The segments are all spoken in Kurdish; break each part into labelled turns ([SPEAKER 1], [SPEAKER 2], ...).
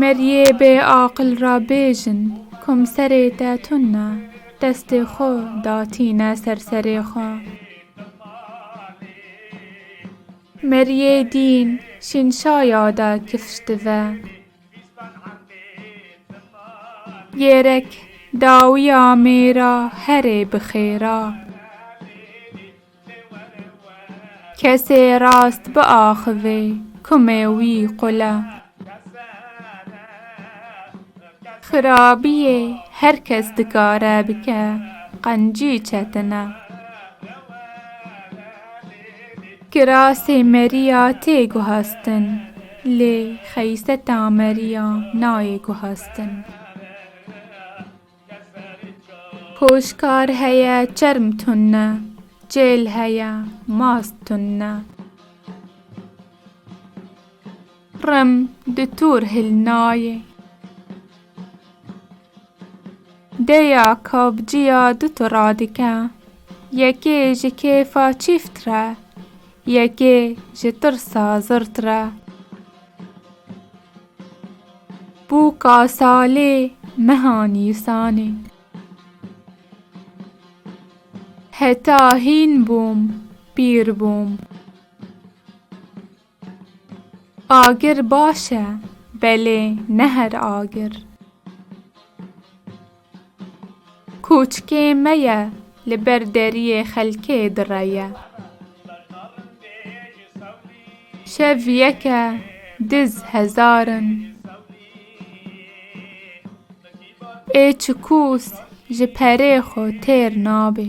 [SPEAKER 1] Meriyê bê aqil ra bêjin, komserê te tun na, destê xo datîne ser serê xo. Meriyê dîn şîn şaya de kifş dive. Gêrek dawiya mêra herê bi xêra. Kesê rast biaxivê kumê wî qule. Xirabiyê her kes dikare bike qencî çetine. Kirasê meriya tê guhestin lê xeyseta meriya nayê guhestin. Hoşkar heye çerm tun ne. Çêl heye mast tun ne. Rim di tur hil nayê. Dêya kabciya du tu radike. Yekê ji kêfa çîft re. Yekê ji tirsa zirt re. Bûka salê meha nîsanê. Heta hîn bûm pîr bûm. Agir baş e belê ne her agir. Koçikê me ye, li ber deriyê xelkê dire ye. Şev yeke, diz hezar in. Ê çikûs ji perê xwe têr nabê.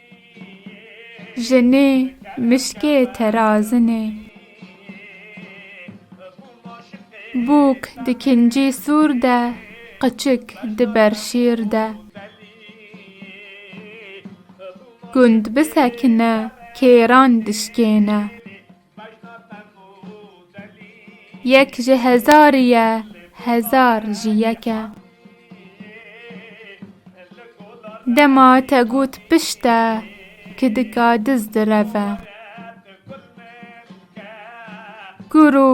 [SPEAKER 1] Jinê mişkê terazinê. Bûk di kincî sûr de, qiçik di ber şîr de. Gund bisekine kêran dişkêne. Yek ji hezarî ye, hezar jî yek e. Dema te got pişt e, kidika diz direv e. Gur û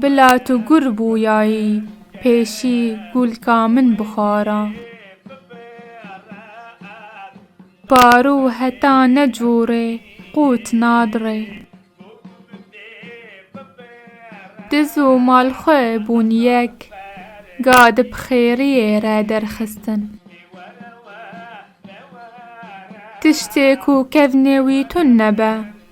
[SPEAKER 1] bila tu gur bûyayî, pêşî gûlka min bixwara. Paro heta necore qût nadre. Diz û mal xwe bûn yek, ga di bixêriyê re derxistin. Tiştê ku kevnê wî tun nebe,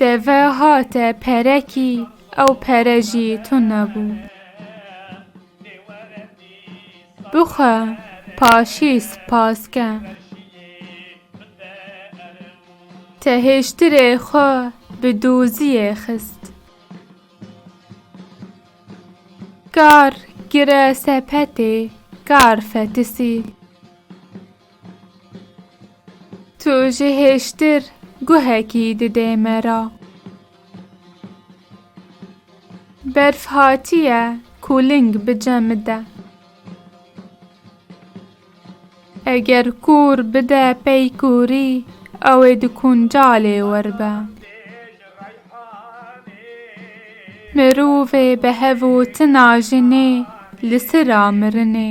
[SPEAKER 1] Deve hate perekî, ew pere jî tune bû. Bixwe paşî spas ke. Te hêştirê xwe bi doziyê xist. Kar gire sepetê, kar fetisî. Tu ji hêştir guhekî didê me ra. Berf hatiye kûling bi cemi de. Eger kûr bide pey kûrî ew ê di kuncalê wer be. Mirovê bi hev û tina jinê li sira mirinê.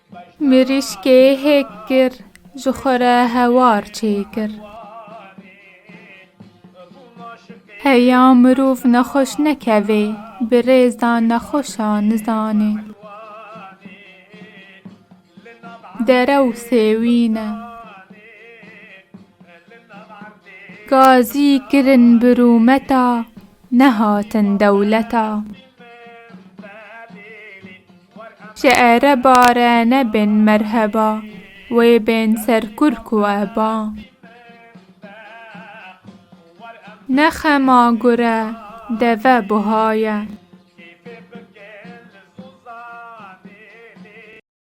[SPEAKER 1] Mirîşkê hêk kir, ji xwe re hewar çêkir. Heya mirov nexweş nekevê, bi rêz da nexweşa nizanê. Dere û sêwîn e. Gazî kirin bi rûmeta, nehatin dewleta. Ji ere bare nebin merheba. Wê bên ser kur ku e ba. Ne xema gure deve buha ye.